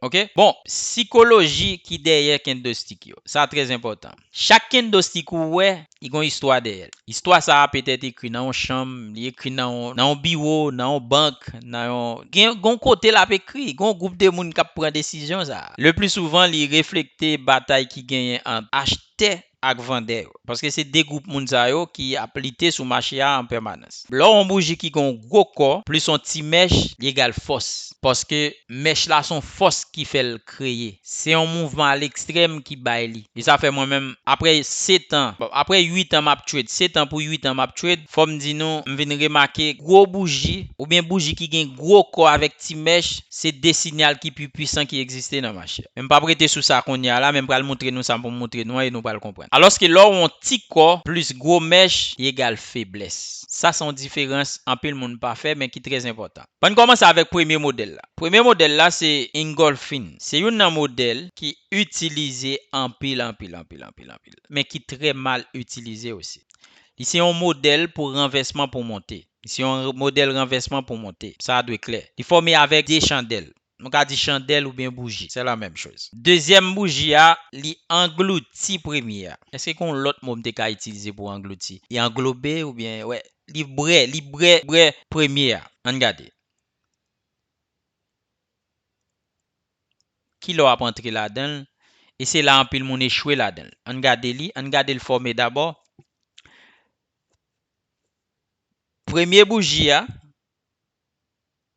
Ok bon sikoloji ki dèyè kendostik yo sa trè enpòtan chak kendostik ou wè li gon istwa dèyè l istwa sa petèt ekri nan yon chanm li ekri nan yon biwo nan yon bank nan yon gen yon kote l ap ekri gen yon gwoup de moun k ap pran desizyon sa lepli souvan li reflekte batay ki genyen ant achtè ak vandè yo, paske se 2 gwoup moun sa yo ki ap lite sou mache a an pèmanans. Lè w on bouji ki gen on gwo kò plis on ti mèch li egal fòs, paske mèch la se on fòs ki fè l kreye. Se on mouvman a lekstrèm ki bay li. E sa fè mwen menm, aprè setan, aprè 8 an m ap trade, setan pou 8 an m ap trade, Fò m di nou, m vin remake gwo bouji, oubyen bouji ki gen gwo kò avèk ti mèch, se 2 sinyal ki pi pwisan ki egziste nan mache. Men m pap rete sou sa kounye a la, men m pral moutre nou sa pou m moutre nou an e nou pral konprann. Alòske lè w on ti kò plis gwo mèch, li egal feblès. Sa se on diferans anpil moun pa fè, men ki trè enpòtan. An n kòmanse avèk premye modèl la. Premye modèl la se Ingolfin. Se youn nan modèl ki itilize anpil anpil anpil anpil anpil, men ki trè mal itilize osi. Li se yon modèl pou ranvèsman pou monte. Li se yon modèl ranvèsman pou monte. Sa a dwe klè. Li fòme avèk de chandèl. Nou ka di chandèl oubyen bouji. Se la menm choz. Dezyèm bouji a, li anglouti premye a. Èske gen yon lòt mo m te ka itilize pou anglouti? Li anglobe oubyen wè. Li bre, li bre, bre premye a. An n gade. Ki lè w ap antre ladan l? E se la anpil moun echwe ladan l. Ann gade li, ann gade l fòme dabò. Premye bouji a,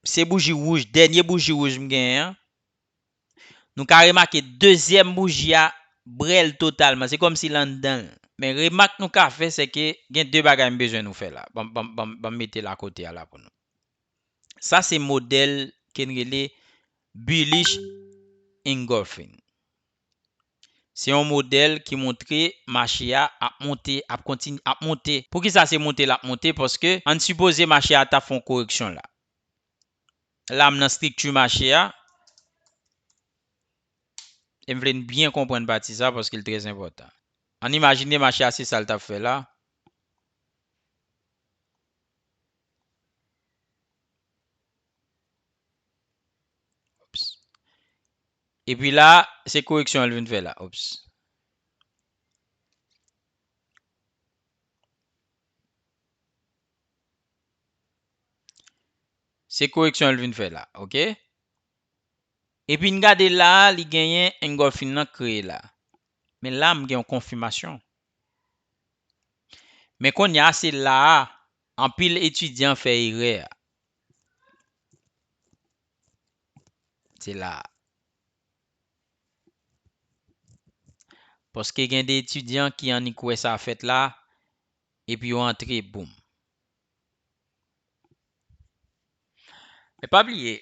se bouji wouj, dènye bouji wouj m genyen an. Nou ka remake dezyèm bouji a bre l totalman. Se kòmsi l anndan l. Men remak nou ka fè sèke gen de bagay m bezwen nou fè la. Ban m mete l akote a la pou nou. Sa se modèl ke n rele Bullish Engulfing. Se yon modèl ki montre mache a ap monte, ap kontinye ap monte. Poukisa se monte l ap monte? Paske an n sipoze mache a ta fè yon koreksyon la. La m nan strikti mache a, e m vle n byen konprann pati sa paske l trèzenpòtan. An n imajine mache a se sa l t ap fè la. E pi la, se koreksyon an li vin fè la. Ops. Se koreksyon an li vin fè la. Ok. E pi n gade la, li genyen engolfing nan kreye la. Men la m gen yon konfimasyon. Men konya se la a Anpil etidyan fè erè a. Se la a. Paske gen de etidyan ki annik wè sa fèt la, epi yo antre boum. Men pa bliye,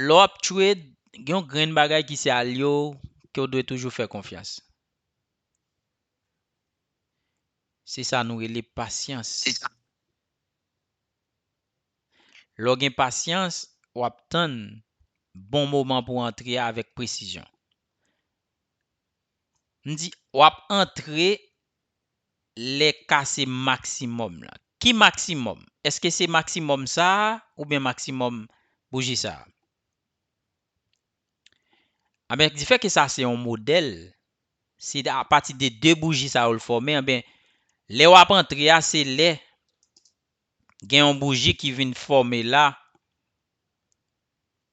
lè w ap trade, gen yon grenn bagay ki se alye w ke w dwe toujou fè konfyans. Se sa nou rele pasyans. Lè w gen pasyans, w ap tann bon moman pou w antre a avèk presizyon. M di w ap antre lè k a se maksimòm lan. Ki maksimòm? Èske se maksimòm sa a oubyen maksimòm bouji sa a? Anben difè ke sa se yon modèl, se a pati de 2 bouji sa yo l fòme anben lè wap antre a se lè gen yon bouji ki vin fòme la,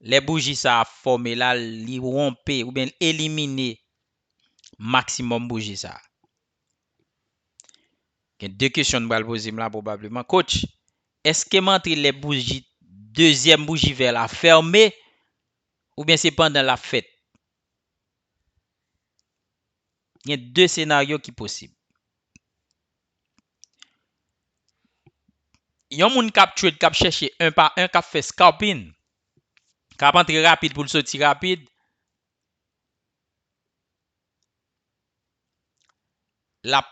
lè bouji sa a fòme la li wonpe oubyen l elimine maksimòm bouji sa. Gen 2 kesyon n pral poze m la pwobableman, Coach, èske m antre lè bouji dezyèm bouji vè la fème Oubyen se pandan lap fèt. Gen 2 senaryo ki posib. Yon moun kap trade kap chèche 1 pa 1 kap fè scalping kap antre rapid poul soti rapid lap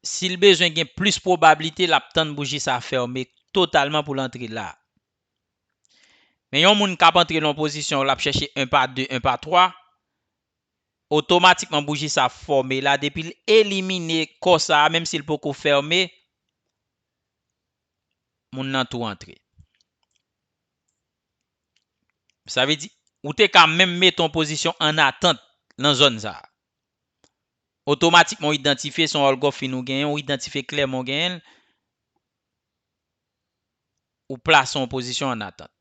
sil bezwen gen plis pwobablite lap tann bouji sa fèmen totalman poul antre la. Men yon moun kap antre nan yon pozisyon lap chèche 1 pa 2, 1 pa 3, otomatikman bouji sa fòme la depi l elimine kò sa menm si l poko fème, moun nan tou antre. Sa vle di ou te ka menm mete yon pozisyon an atant nan zòn sa. Otomatikman ou idantifye se yon òlgòfin ou genyen, ou idantifye klèman ou genyen l. ou plase an pozisyon an atant.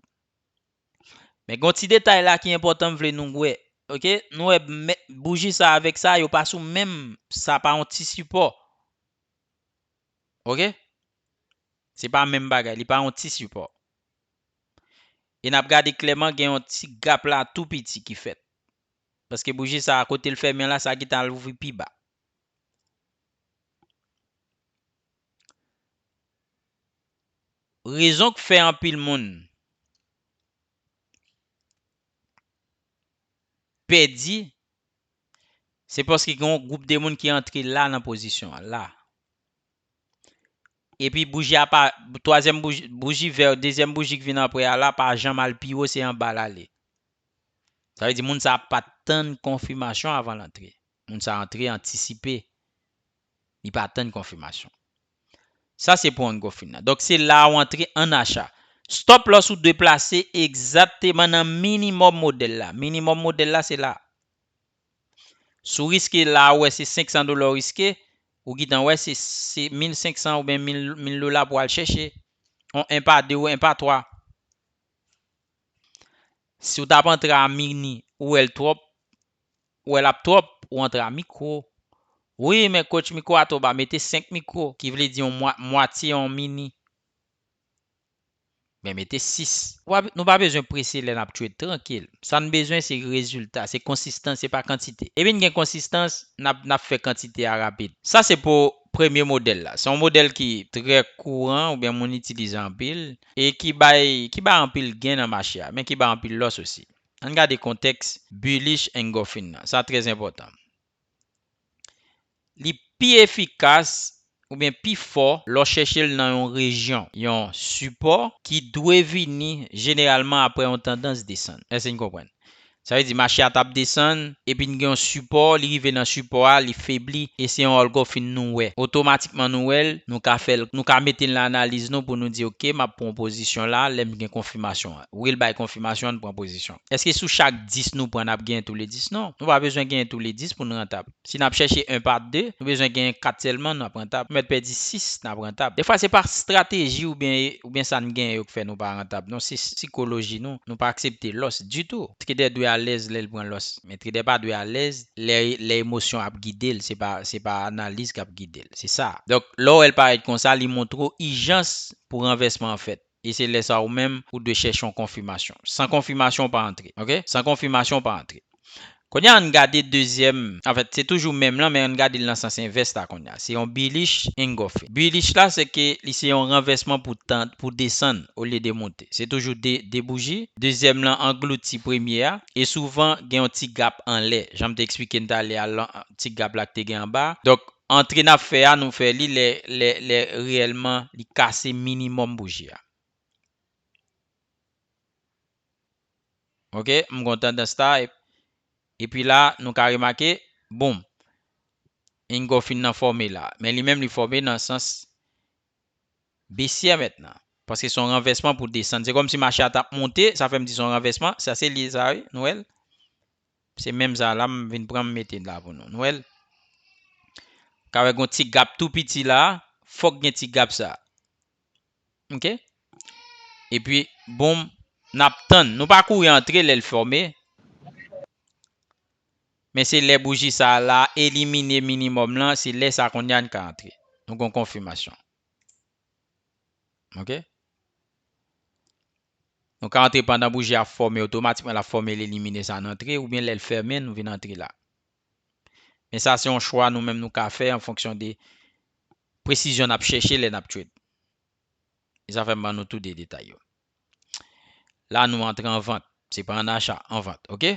Men gen yon ti detay la ki enpòtan m vle nou wè ok, nou wè bouji sa avèk sa yo pa sou menm sa pa yon ti sipò ok se pa menm bagay li pa yon ti sipò e n ap gade klèman gen yon ti gap la tou piti ki fèt paske bouji sa kote l fèmen la sa gentan al ouvri pi ba. Rezon k fè anpil moun pèdi se paske gen yon gwoup de moun ki antre la nan pozisyon an la. Epi bouji a pa, twazyèm bouji, bouji vè, dezyèm bouji ki vin apre a la pa janm al pi wo, se anba l ale. Sa vle di moun sa a pa t tann konfimasyon avan l antre. Moun sa a antre antisipe. li pa tann konfimasyon. Sa se pou ongofin nan. Donk se la ou antre an acha. Stop loss ou dwe plase egzakteman nan minimòm modèl la. Minimòm modèl la se la. Si w riske la ou wè se 500 dola ou riske, ou gentan wè se 1500 oubyen 1000 dola pou al chèche. On 1 pa 2 ou 1 pa 3. Si w tap antre a mini ou wè l twòp, wè lap trop ou antre a micro wi men coach micro a tro ba mete 5 micro ki vle di yon mwatye yon mini ben mete 6. Nou pa bezwen prese lè nap tchwet trankil sa n bezwen se rezilta se konsistans se pa kantite depi n gen konsistans nap fè kantite a rapid sa se pou premye modèl la se yon modèl ki trè kouran oubyen moun itilize anpil e ki bay anpil gen nan mache a men ki bay anpil lòs osi. Ann gade kontèks bullish engulfing nan. Sa trè enpòtan. Li pi efikas oubyen pi fò lè w chèche l nan yon rejyon, yon sipò ki dwe vini jeneralman aprè yon tandans desann. Èske n konprann? Sa vle di mache a t ap desann epi n gen yon sipò, li rive nan sipò a, li febli e se yon olgòfin nou wè. Otomatikman nou wè l, nou ka fè l, nou ka mete l nan analiz nou pou nou di ok m ap pran yon pozisyon la lè m gen konfimasyon. Wi l bay konfimasyon an pran pozisyon. Eske sou chak 10 nou pran n ap genyen toule 10? Non. Nou pa bezwen genyen toule 10 pou n rantab. Si n ap chèche 1 pa 2, nou bezwen genyen 4 sèlman n ap rantab. Nou mèt pèdi 6 n ap rantab. Dèfwa se pa strateji oubyen sa n genyen yo k fè nou pa rantab non se sikoloji nou. Nou pa aksepte lòs ditou. Trader dwe alèz lè l pran lòs. Men trader pa dwe alèz lè emosyon ap gide l se pa analiz k ap gide l. Se sa. Donk lè w wè l parèt konsa li montre w ijans pou ranvèsman an fèt. E se lè sa a ou menm ou dwe chèche yon konfimasyon. San konfimasyon ou pa antre. Ok? San konfimasyon ou pa antre. Kounye a an n gade dezyèm, anfèt se toujou menm lan men an n gade l nan sans envès la kounye a. Se yon bilish engòfe. Bilish la se ke li se yon ranvèsman pou tan, pou desann olye de moute. Se toujou de, de bouji. Dezyèm lan anglouti premye a. E souvan gen yon ti gap anlè. Jan m te eksplike n talè a lan, ti gap la ki te gen anba a. Donk. Antre nap fè a nou fè li lè lè lè reyèlman li kase minimòm bouji a. Ok m gon tandans la epi la nou ka remake boom engulfing nan fòme la men li menm li fòme nan sans besyè mètnan paske son ranvèsman pou desann se kòmsi mache a tap monte sa fèm di son ranvèsman sa se li sa wi nou wèl. Se menm sa la m vin pran m mete la pou nou. Nou wè l? Ou ka wè gen yon ti gap tou piti la a, fòk gen ti gap sa a. Ok? Epi, boum, n ap tann. Nou pa kouri antre lè l fòme. Men se lè bouji sa a la elimine minimòm lan, se lè sa kounye a n ka antre. Nou gen yon konfimasyon. Ok? Nou ka antre pandan bouji a ap fòme otomatikman lap fòme li limine sa nan antre oubyen lèl fèmen nou vin antre la men sa se yon chwa nou menm nou ka fè an fonksyon de presizyon nap chèche lè nap trade e sa fèm ban nou tou 2 detay yo la nou antre an vant se pa an acha an vant ok.